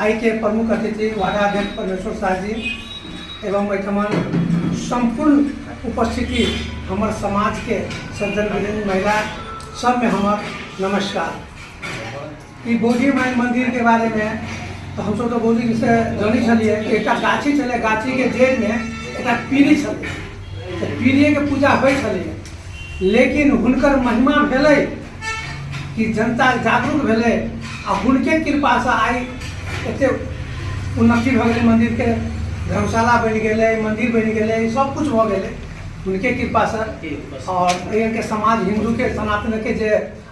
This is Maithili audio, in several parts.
आइके प्रमुख अतिथि वाराध्यक्ष परमेश्वर शाहजी एवं एहिठाम सम्पूर्ण उपस्थिति हमर समाजके सज्जन विभिन्न महिला सबमे हमर नमस्कार ई बोधी माई मन्दिरके बारेमे तऽ हमसब तऽ बोधीसँ जनै छलियै कि एकटा गाछी छलै गाछीके जड़िमे एकटा पीड़ी छलै तऽ पीड़िएके पूजा होइ छलै लेकिन हुनकर महिमा भेलै कि जनता जागरूक भेलै आ हुनके कृपासँ आइ एतेक उन्नति भऽ गेलै मन्दिरके धर्मशाला बनि गेलै मन्दिर बनि गेलै सबकिछु भऽ गेलै हुनके कृपासँ आओर एहिके समाज हिन्दूके सनातनके जे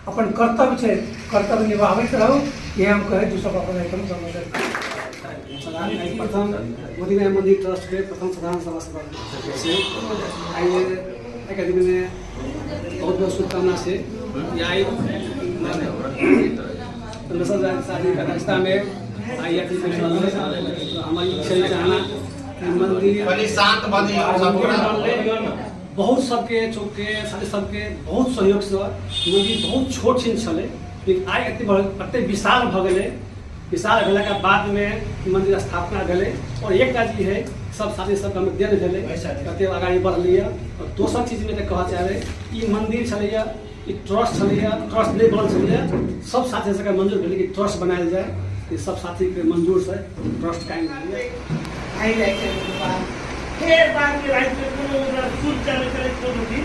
अपन कर्तव्य छै कर्तव्य निभाबैत रहू इएह हम कहै छी सब अपन एकदम समझ प्रथम मोदीराय मन्दिर ट्रस्टके प्रथम साधारण सभा सभा आइए एकाडेमीमे बहुत बहुत शुभकामना से आइ शादी का रास्ता में आई अपनी हमारी खेल चाहना मंदिर शांत बनी बहुत सबके चौकके साथी सबके बहुत सहयोगसँ मन्दिर बहुत छोट छिन छलै लेकिन आइ एतेक बड़ एतेक विशाल भऽ गेलै विशाल भेला के बाद में मंदिर स्थापना भेले और एक टा चीज है सब साथी सब हम देन भेले कते आगाड़ी बढ़लिए और दोसर चीज में तो कह चाहे ई मंदिर छलैया ई ट्रस्ट छलैया ट्रस्ट नहीं बनल छलैया सब साथी सबके मंजूर भेले कि ट्रस्ट बनायल जाए ई सब साथी के मंजूर से ट्रस्ट कायम भेलै आइ जाइ छै फेर बाद में राति में कोनो ओकरा सूट चले चले कोनो दिन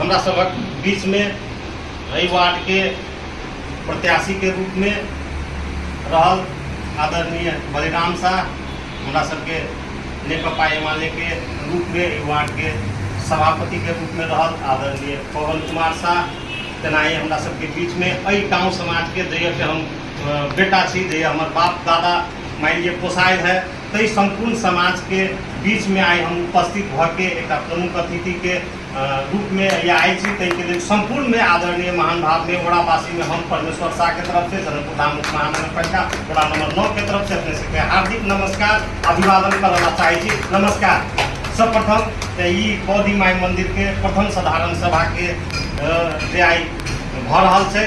हमरा सभक बीचमे एहि वार्डके प्रत्याशीके रूपमे रहल आदरणीय बलिराम साह हमरा सभके नेकपा एमालेके रूपमे एहि वार्डके सभापतिके रूपमे रहल आदरणीय पवन कुमार साह तेनाही हमरा सभके बीचमे एहि गाँव समाजके जहियासँ हम बेटा छी जे हमर बाप दादा मानि लिअ पोसाइ है ताहि सम्पूर्ण समाजके बीचमे आइ हम उपस्थित भऽ के एकटा प्रमुख अतिथिके रूपमे या आयल छी ताहिके लेल सम्पूर्णमे आदरणीय महान भावमे ओरावासीमे हम परमेश्वर शाहके तरफ से जनकपुर धाम महानगरपालिका वडा नम्बर नौ के तरफ से अपने सबके हार्दिक नमस्कार अभिवादन करय ला चाहै छी नमस्कार सर्वप्रथम तऽ ई बौद्धि माय मन्दिरके प्रथम साधारण सभाके जे आइ भऽ रहल छै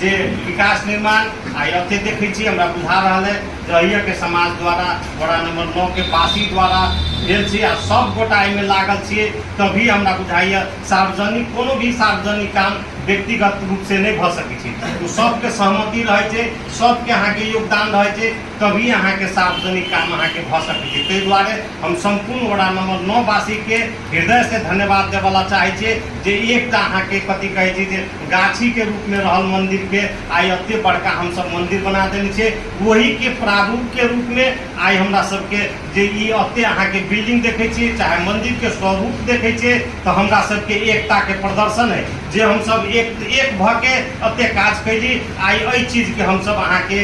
जे विकास निर्माण आ अते देखै छी हमरा बुझा रहल है जहिया के समाज द्वारा वड़ा नंबर नौ के पासी द्वारा भेल छी आ सब गोटा एहिमे लागल छियै तभी हमरा बुझाइए सार्वजनिक कोनो भी सार्वजनिक काम व्यक्तिगत रूप से नहि भऽ सकै छै ओ सबके सहमति रहै छै सबके अहाँके योगदान रहै छै तभी अहाँके सार्वजनिक काम अहाँके भऽ सकै छै ताहि दुआरे हम सम्पूर्ण वडा नम्बर नओ वासीके हृदयसँ धन्यवाद देबऽला चाहै छियै जे एकटा अहाँके कथी कहै छै जे गाछीके रूपमे रहल मन्दिरके आइ एते बड़का हमसभ मन्दिर बना देने छियै ओहीके प्रारूपके रूपमे आइ हमरा सभके जे ई एते अहाँके बिल्डिंग देखै छियै चाहे मन्दिरके स्वरूप देखै छियै तऽ हमरा सभके एकताके प्रदर्शन है जे हमसभ एक एक भऽ के एते काज कैली आइ एहि चीजके हमसभ अहाँके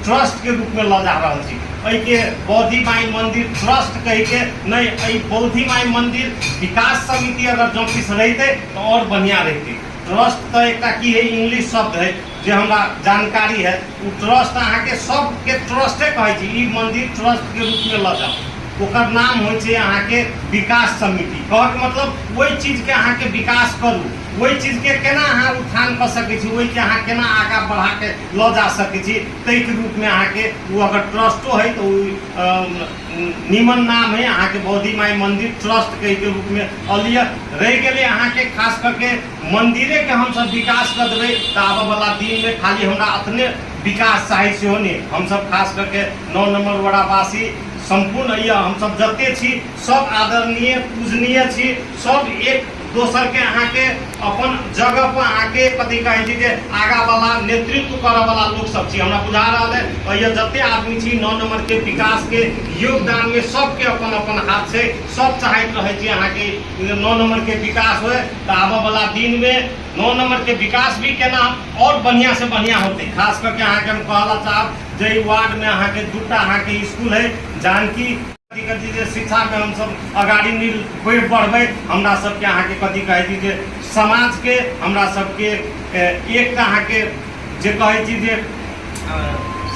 ट्रस्ट के रूप में लऽ जा रहल छी एहि के बौद्धि माई मंदिर ट्रस्ट कह के नहीं एहि बौद्धि माई मंदिर विकास समिति अगर जो किछु रहते तो और बढ़िया रहते ट्रस्ट तो एक की है इंग्लिश शब्द है जे हमरा जानकारी है वो ट्रस्ट अहाँ के सब के ट्रस्टे कहे छी ई मंदिर ट्रस्ट के रूप में लऽ जाओ ओकर नाम हो छै अहाँ के विकास समिति कह के मतलब वही चीज के अहाँ के विकास करू वही चीज के केना अहाँ उत्थान कऽ सकै छी वही के अहाँ केना आगा बढ़ा के लऽ जा सकै छी ताहिके रूपमे अहाँके ओ अगर ट्रस्टो हइ तऽ ओ नीमन नाम हइ अहाँके बौद्धि माइ मन्दिर ट्रस्ट कहिके रूपमे अलिय रहि गेलै अहाँके खास करके मन्दिरेके हमसब विकास कऽ देबै तऽ आबऽवला दिनमे खाली हमरा अपने विकास चाही सेहो नहि हमसब खास करके नओ नम्बर वड़ावासी सम्पूर्ण अइ हमसब जतेक छी सब आदरणीय पूजनीय छी सब एक दोसर के अहाँ के अपन जगह पर अहाँ के कथी कहे छी जे आगा वाला नेतृत्व करऽ वाला लोग सब छी हमरा बुझा रहल है और ये जते आदमी छी नौ नंबर के विकास के योगदान में सबके अपन अपन हाथ छै सब चाहैत रहे छी अहाँ के जे नौ नंबर के विकास होय तऽ आबऽ वाला दिन में नौ नंबर के विकास भी केना और बढ़िया से बढ़िया होते खास करके अहाँ के हम कहला चाहब जे ई वार्ड में अहाँ के दूटा अहाँ के स्कूल है जानकी कथी जे शिक्षाके हमसब अगाडि निल बढ़ि बढ़बै हमरा सबके अहाँके कथी कहै छी जे समाजके हमरा सबके एकटा अहाँके जे कहै छी जे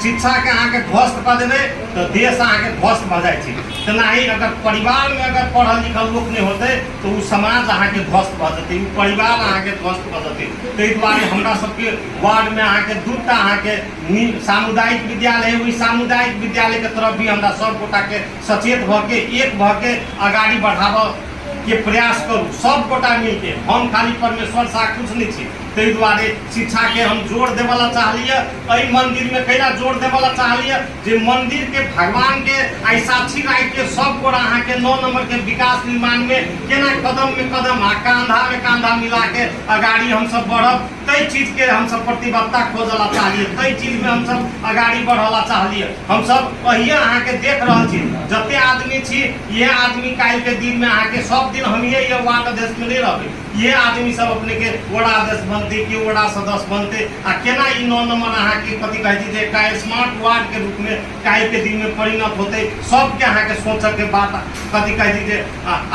शिक्षाके अहाँके ध्वस्त कऽ देबै तऽ देश अहाँके ध्वस्त भऽ जाइ छै तेनाही अगर परिवारमे अगर पढ़ल लिखल लोक नहि होतै तऽ ओ समाज अहाँके ध्वस्त भऽ जेतै ओ परिवार अहाँके ध्वस्त भऽ जेतै ताहि दुआरे हमरा सबके वार्डमे अहाँके दूटा अहाँके सामुदायिक विद्यालय है ओहि सामुदायिक विद्यालय के तरफ भी हमरा सब गोटा के सचेत भ के एक भ के अगाड़ी बढ़ाव के प्रयास करू सब गोटा मिल के हम खाली परमेश्वर साह कुछ नहीं छी ताहि दुआरे शिक्षा के हम जोर देवला चाहलिए एहि मंदिर में कैला जोर देवला चाहलिए जे मंदिर के भगवान के आई साक्षी राखि के सब गोटा अहाँ के नौ नंबर के विकास निर्माण में केना कदम में कदम आ कांधा में कांधा मिला के अगाड़ी हम सब बढ़ब कई चीज के हम सब प्रतिबद्धता खोजला चाहिए कई चीज में हम सब अगाड़ी बढ़ला चाहिए हम सब वही अहाँ के देख रहा छी जते आदमी छी ये आदमी काल के दिन में अहाँ के सब दिन हम ये ये वार्ड अध्यक्ष में नहीं रहबे ये आदमी सब अपने के वड़ा अध्यक्ष बनते के वड़ा सदस्य बनते आ केना ई नौ नंबर अहाँ के कथी कहै छी जे का स्मार्ट वार्ड के रूप में काल के दिन में परिणत होते सबके अहाँ के सोचक के बात कथी कहै छी जे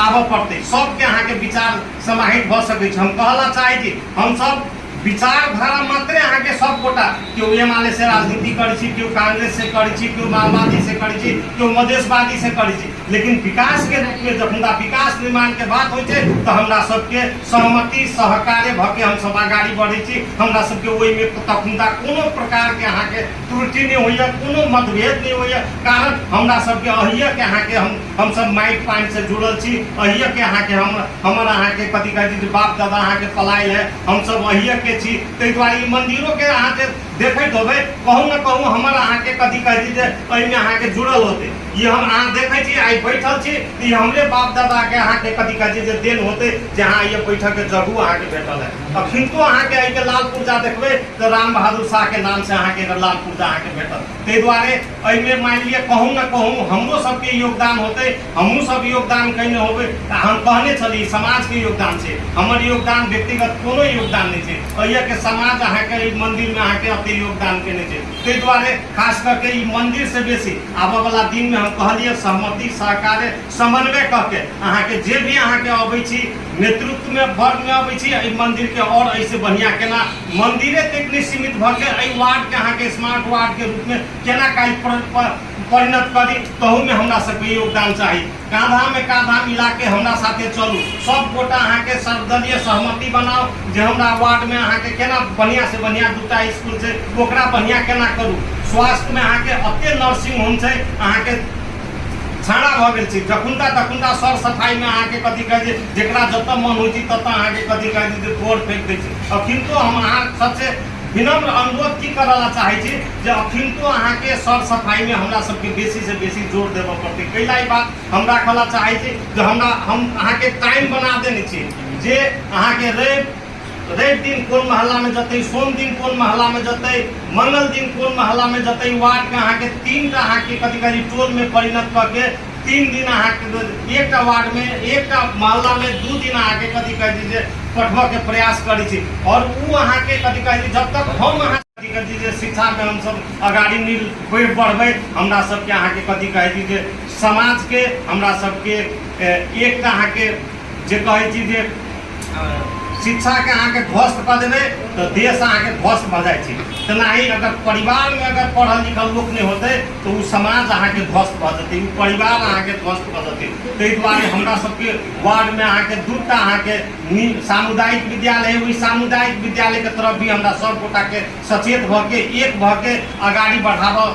आबऽ पड़ते सबके अहाँ के विचार समाहित भऽ सकैत छै हम कहला चाहै छी हमसभ विचारधारा मात्रे अहाँके सब गोटा केओ एम आल से राजनीति करै छी केओ कांग्रेस से करै छी केओ माओवादी से करै छी केओ मधेशवादी से करै छी लेकिन विकास के रूप में जखुनका विकास निर्माण के बात होइ छै तऽ हमरा सबके सहमति सहकार्य भऽ के हमसभ आगाड़ी बढ़ै छी हमरा सबके ओहिमे तखुनका कोनो प्रकार के अहाँके त्रुटि नहि होइए कोनो मतभेद नहि होइए कारण हमरा सबके अहिए के अहाँके हम हम सब माइट पानी से जुड़ल छी अहिए के अहाँ के हम हमर अहाँ के कथी कहै छी जे बाप दादा अहाँ के पलायल है हम सब अहिए के छी ताहि दुआरे ई मंदिरो के अहाँ जे देखैत होबै कहूँ ने कहूँ हमर अहाँ के कथी कहै छी जे एहिमे अहाँ के जुड़ल होतै ई हम अहाँ देखै छी आइ बैठल छी तऽ ई हमरे बाप दादा के अहाँ के कथी कहै छी जे देन होतै जे अहाँ ये बैठक के जगहू अहाँ के भेटल है अखिनको अहाँ के एहि के लाल पुर्जा देखबै तऽ राम बहादुर शाह के नाम से अहाँ के एकर लाल पुर्जा अहाँ के भेटल ताहि दुआरे एहिमे मानि लिअ कहूँ ने कहूँ हमरो सबके योगदान होते हमहूँ सब योगदान कयने होबै तऽ हम कहने छली समाजके योगदान छै हमर योगदान व्यक्तिगत कोनो योगदान नहि छै अहियाके समाज अहाँके एहि मन्दिरमे अहाँके एते योगदान केने छै ताहि दुआरे खास करके ई मन्दिरसँ बेसी आबऽवला दिनमे हम कहलियै सहमति सहकार्य समन्वय कऽ के अहाँके जे भी अहाँके अबै छी नेतृत्वमे वर्गमे अबै छी एहि मन्दिरके आओर एहिसँ बढ़िआँ केना मन्दिरे तक नहि सीमित भऽ के एहि वार्डके अहाँके स्मार्ट वार्डके रूपमे केना काज परिणत करी तहूमे हमरा सबके योगदान चाही काँधामे काँधा मिलाके हमरा साथे चलू सब गोटा अहाँके सर्वदलीय सहमति बनाओ जे हमरा वार्डमे अहाँके केना बढ़िआँसँ बढ़िआँ दूटा इसकुल छै ओकरा बढ़िआँ केना करू स्वास्थ्यमे अहाँके एतेक नर्सिंग होम छै अहाँके छाड़ा भऽ गेल छै जखुनका तखुनका सर सफाइमे अहाँके कथी कहै छै जकरा जतऽ मन होइ छै ततऽ अहाँके कथी कहै छै जे तोड़ फेंक दै छै अखिनको हम अहाँ सबसे विनम्र अनुरोध की करऽ ला चाहै छी जे अखिनको अहाँके सर सफाइमे हमरा सबके बेसी से बेसी जोर देबऽ पड़तै कै ला ई बात हम राखऽ ला चाहै छी जे हमरा हम अहाँके टाइम बना देने छी जे अहाँके रवि रवि दिन कोन महल्ला में जतै सोम दिन कोन महल्ला में जतै मंगल दिन कोन महल्ला में जतै वार्ड के अहाँ के तीन टा अहाँ के कथी करी टोल में परिणत क के तीन दिन अहाँ के एक टा वार्ड में एक टा महल्ला में दू दिन अहाँ के कथी कहै छै जे पठबऽ के प्रयास करै छी और ऊ अहाँ के कथी कहै छै जब तक हम अहाँ कथी जे शिक्षामे हमसभ अगाड़ी मिल बढ़ि बढ़बै हमरा सभके अहाँके कथी कहै छी जे समाजके हमरा सभके ए, एकटा अहाँके जे कहै छी जे अ, शिक्षाके अहाँके ध्वस्त कऽ देबै तऽ देश अहाँके ध्वस्त भऽ जाइ छै तेनाही अगर परिवारमे अगर पढ़ल लिखल लोक नहि होतै तऽ ओ समाज अहाँके ध्वस्त भऽ जेतै ओ परिवार अहाँके ध्वस्त भऽ जेतै ताहि दुआरे हमरा सभके वार्डमे अहाँके दूटा अहाँके सामुदायिक विद्यालय ओहि सामुदायिक विद्यालय के तरफ भी हमरा सब गोटा के सचेत भ के एक भ के अगाड़ी बढ़ाबऽ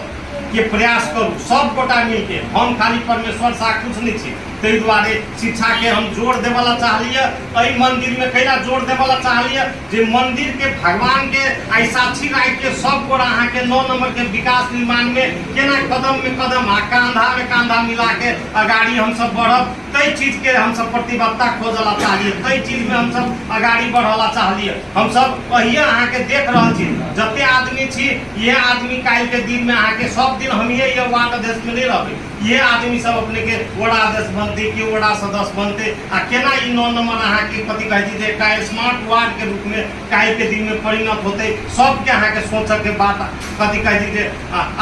के प्रयास करू सब गोटा मिल के हम खाली परमेश्वर सा कुछ नहीं छी ताहि दुआरे शिक्षा के हम जोर देवे ला चाहलिए एहि मंदिर में कैला जोर देवे ला चाहलिए जे मंदिर के भगवान के आई साक्षी राख के सब गोटा अहाँ के नौ नंबर के विकास निर्माण में केना कदम में कदम आ कांधा में कांधा मिला के अगाड़ी हम सब बढ़ब कई चीज के हम सब प्रतिबद्धता खोजला चाहिए कई चीज में हम सब अगाड़ी बढ़ला चाहिए हम सब कहिए अहाँ के देख रहा छी जते आदमी छी ये आदमी काल के दिन में अहाँ के सब दिन हम ये ये वार्ड अध्यक्ष में नहीं रहबे ये आदमी सब अपने के वड़ा अध्यक्ष बनते के वड़ा सदस्य बनते आ केना ई नौ नंबर अहाँ के कथी कहै छी जे का स्मार्ट वार्ड के रूप में काल के दिन में परिणत होते सबके अहाँ के सोचऽ के बात कथी कहै छी जे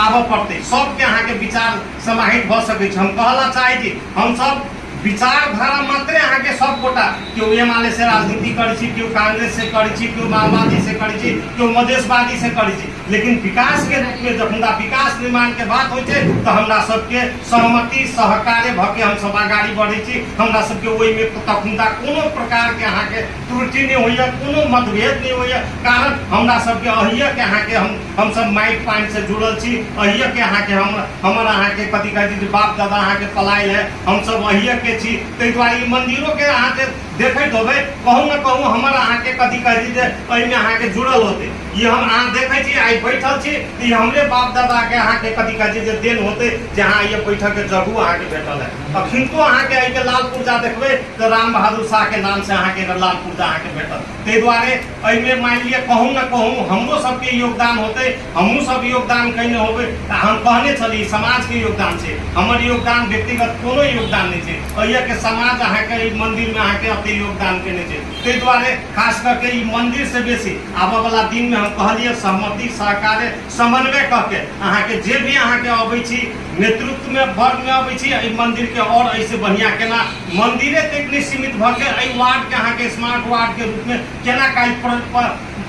आबऽ पड़ते सबके अहाँ के विचार समाहित भऽ सकै छै हम कहला चाहै छी हमसभ विचारधारा मात्रे अहाँके सब गोटा केओ एम आल से राजनीति करै छी केओ कांग्रेस से करै छी केओ माओवादी से करै छी केओ मधेशवादी से करै छी लेकिन विकास के रूप में जखुनका विकास निर्माण के बात होइ छै तऽ हमरा सबके सहमति सहकार्य भऽ के हमसभ आगाड़ी बढ़ै छी हमरा सबके ओहिमे तखुनका कोनो प्रकार के अहाँके त्रुटि नहि होइए कोनो मतभेद नहि होइए कारण हमरा सबके अहिएके अहाँके हम हमसब माटि पानिसँ जुड़ल छी अहिएके अहाँके हम हमर अहाँके कथी कहै छै जे बाप दादा अहाँके पलायल है हमसब अहिएके छी ताहि दुआरे ई मन्दिरोके अहाँ जे देखैत होबै कहूँ ने कहूँ हमर अहाँके कथी कहै छै जे एहिमे अहाँके जुड़ल होतै ई हम अहाँ देखै छी आइ बैठल छी तऽ ई हमरे बाप दादाके अहाँके कथी कहै छै जे देन होतै जे अहाँ आइए बैठकके जगहो अहाँके भेटल है अखिनको अहाँके एहिके लाल पुर्जा देखबै तऽ राम बहादुर शाह के नाम से अहाँ के एकर लाभ पुर्जा अहाँ के भेटत ताहि दुआरे एहिमे मानि लिअ कहूँ ने कहूँ हमरो सबके योगदान होते हमहूँ सब योगदान कयने होबै तऽ हम कहने छली समाज के योगदान छै हमर योगदान व्यक्तिगत कोनो योगदान नहि छै एहिए के समाज अहाँ के एहि मंदिर में अहाँ के अते योगदान केने छै ताहि दुआरे खास कऽ के ई मंदिर से बेसी आबऽ वाला दिन में हम कहलियै सहमति सहकार्य समन्वय कऽ के अहाँ के जे भी अहाँ के अबै छी नेतृत्व में वर्ग में अबै छी एहि मंदिर के और एहि से बढ़िया केना मंदिरे तक नहीं सीमित भ के एहि वार्ड के अहाँ के स्मार्ट वार्ड के रूप में केना काज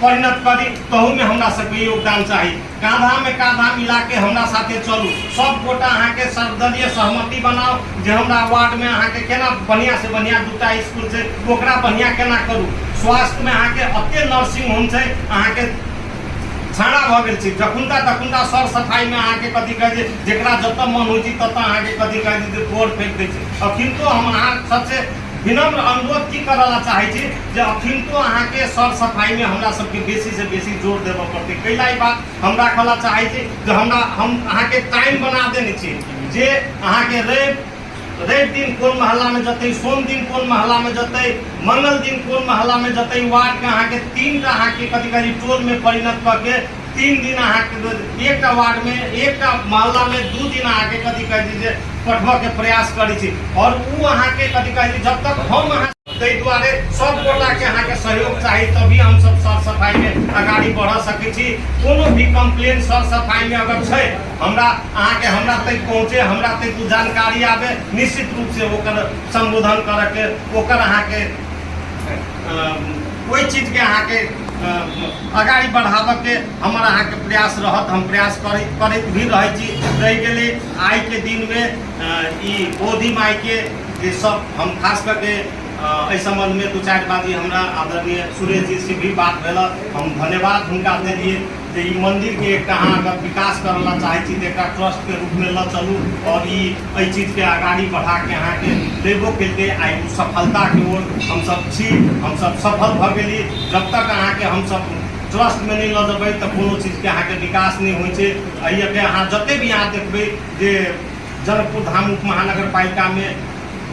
परिणत कर दी तहू में हमरा सबके योगदान चाही कांधा में कांधा मिला के हमरा साथे चलू सब गोटा अहाँ के सर्वदलीय सहमति बनाओ जे हमरा वार्ड में अहाँ के केना बढ़िया से बढ़िया दूटा स्कूल से ओकरा बढ़िया केना करू स्वास्थ्य में अहाँ के अत्य नर्सिंग होम से अहाँ के छाड़ा भऽ गेल छै जखुनका तखुनका सर सफाइमे अहाँके कथी कहै छै जकरा जतऽ मन होइ छै ततऽ अहाँके कथी कहै छै जे गोड़ फेंक दै छै अखिनको हम अहाँ सबसे विनम्र अनुरोध की करऽ ला चाहै छी जे अखिनको अहाँके सर सफाइमे हमरा सबके बेसी से बेसी जोर देबऽ पड़तै कै ला ई बात हम राखऽ ला चाहै छी जे हमरा हम अहाँके टाइम बना देने छी जे अहाँके रवि रवि दिन कोन महल्ला में जतै सोम दिन कोन महल्ला में जतै मंगल दिन कोन महल्ला में जतै वार्ड के अहाँ के तीन टा अहाँ के कथी करी टोल में परिणत क के तीन दिन अहाँ के एक टा वार्ड में एक टा महल्ला में दू दिन अहाँ के कथी कहै छै जे पठबऽ के प्रयास करै छी और उ अहाँ के कथी कहै छै जब तक हम अहाँ ताहि दुआरे सब गोटा के अहाँ के सहयोग चाहिए तभी हम सब सर सफाई में अगाड़ी बढ़ सके छी कोनो भी कंप्लेन सर सफाई में अगर छै हमरा अहाँ के हमरा तक पहुँचे हमरा तक कुछ जानकारी आवे निश्चित रूप से ओकर संबोधन करे के ओकर अहाँ के कोई चीज के अहाँ के अगाड़ी बढ़ावे के हमारा अहाँ के प्रयास रहत हम प्रयास करे करत भी रहे छी रह गेले आई के दिन में ई बोधी माई के जे सब हम खास करके एहि सम्बन्धमे दू चारि बात ई हमरा आदरणीय सुरेश जी से भी बात भेल हम धन्यवाद हुनका देलियै जे ई मन्दिरके एकटा अहाँ अगर विकास करय लए चाहै छी तऽ एकटा ट्रस्टके रूपमे लऽ चलू आओर ई एहि चीजके आगाड़ी बढ़ाके अहाँके लेबो केलकै आ ई सफलताके ओर हमसभ छी हमसभ सफल भऽ गेली जब तक अहाँके हमसभ ट्रस्टमे नहि लऽ जेबै तऽ कोनो चीजके अहाँके विकास नहि होइ छै एहिके अहाँ जतेक भी अहाँ देखबै जे जनकपुर धाम उपमहानगरपालिका में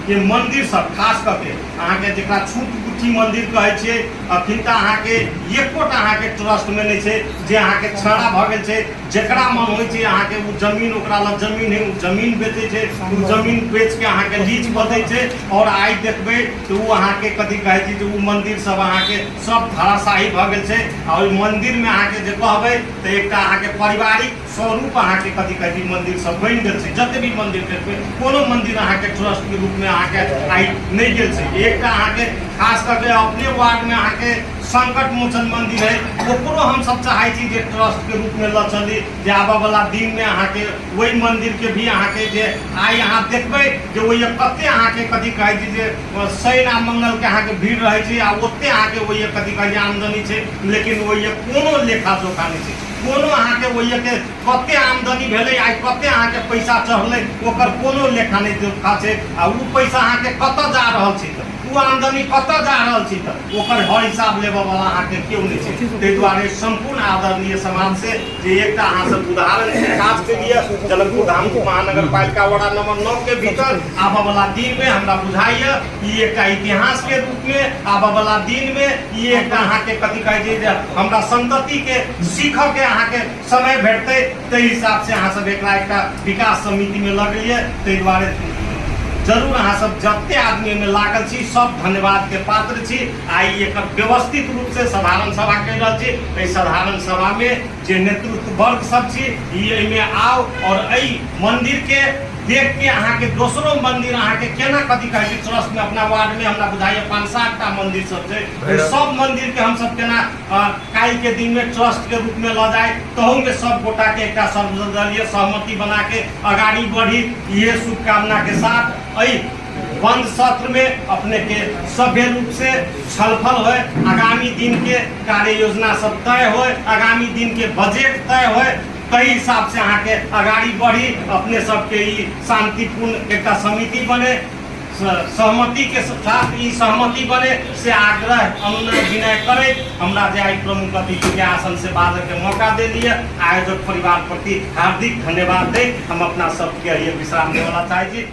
के मंदिर सब खास करके अहाँ के जरा छूट गुठी मंदिर कहे छे अखिन तक अहाँ के एकोटा अहाँ के ट्रस्ट में नहीं छे जे अहाँ के छड़ा भ गेल छे जकरा मन होय छे अहाँ के वो जमीन ओकरा लग जमीन है वो जमीन बेचे छे वो जमीन बेच के अहाँ के लीज प दे छे और आइ देखबे तो वो अहाँ के कथी कहे छी जे वो मंदिर सब अहाँ के सब धराशाही भ गेल छे और मंदिर में अहाँ के जे कहबे तो एकटा अहाँ के पारिवारिक स्वरूप अहाँके कथी कहै छै मंदिर सब बनि गेल छै जते भी मंदिर देखबै कोनो मंदिर अहाँके ट्रस्ट के रूप में अहाँके आइ नहि गेल छै एकटा अहाँके खास करके अपने वार्ड में अहाँके संकट मोचन मंदिर है ओकरो हम सब चाहै छी जे ट्रस्ट के रूप में लऽ चली जे आबऽ वाला दिन में अहाँके वही मंदिर के भी अहाँके जे आइ अहाँ देखबै जे ओहि कते अहाँके कथी कहै छै जे शनि आ मंगल के अहाँके भीड़ रहै छै आ ओते अहाँके ओहि कथी कहै छै आमदनी छै लेकिन ओहि कोनो लेखा जोखा नहि छै कोनो अहाँके ओहिके कते आमदनी भेलै आइ कते अहाँके पैसा चढ़लै ओकर कोनो लेखा नहि जोखा छै आ ओ पैसा अहाँके कतऽ जा रहल छै तऽ ओ आमदनी कतऽ जा रहल छै तऽ ओकर हर हिसाब लेबऽ वाला अहाँके केओ नहि छै ताहि दुआरे सम्पूर्ण आदरणीय समाज से जे एकटा अहाँ सब उदाहरण के काज के लिए जनकपुर धाम महानगर पालिका वडा नंबर नौ के भीतर आबऽ वाला दिन में हमरा बुझाइए ई एकटा इतिहास के रूप में आबऽ वाला दिन में ई एकटा अहाँ के कथी कहे छै जे हमरा संतति के सीख के अहाँ के समय भेटते ते हिसाब से अहाँ सब एकरा एकटा विकास समिति में लगलिए ते द्वारे जरूर अहाँ सब जते आदमी में लागल छी सब धन्यवाद के पात्र छी आई एक व्यवस्थित रूप से साधारण सभा कर रहल छी साधारण सभा में जे नेतृत्व वर्ग सब छी ई एहिमे आउ और एहि मंदिर के देख के अहाँ के दोसरो मंदिर अहाँ के केना कथी कहै छै ट्रस्ट में अपना वार्ड में हमरा बुझाइए पाँच सात टा मंदिर सब छै ओहि सब मंदिर के हम सब केना अ, काल्हि के दिन में ट्रस्ट के रूप में ल जाए तहू में सब गोटा के एकटा सर्वदलीय सहमति बना के अगाड़ी बढ़ी इहे शुभकामना के साथ एहि बंद सत्र में अपने के सभ्य रूप से छलफल हो आगामी दिन के कार्य योजना सब तय हो आगामी दिन के बजट तय हो तही हिसाब से अहाँ के अगाड़ी बढ़ी अपने सबके ई शांतिपूर्ण एक समिति बने सहमति के साथ ई सहमति बने से आग्रह अनुनय विनय करे हमरा जे आई प्रमुख अतिथि के आसन से बाजय के मौका दे दिए आयोजक परिवार प्रति हार्दिक धन्यवाद दे हम अपना सबके विश्राम देवला चाहे छी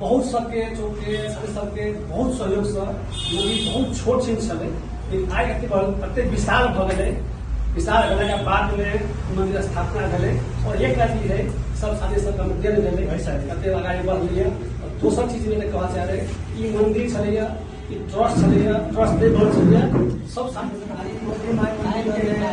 बहुत सबके चौके सर सबके बहुत सहयोग से मूवी बहुत छोट सीन छलै लेकिन आइ एते बड़ एते विशाल भऽ गेलै विशाल भेलाके बाद में मंदिर स्थापना भेलै और एक राति है सब साथी सब हम देल भेलै भाई साहब कते अगाडि बढ़लियै और दोसर चीज में कहऽ चाह रहे ई मंदिर छलैया ई ट्रस्ट छलैया ट्रस्ट दे बहुत छलैया सब साथी सब आइ मंदिर में आइ गेलै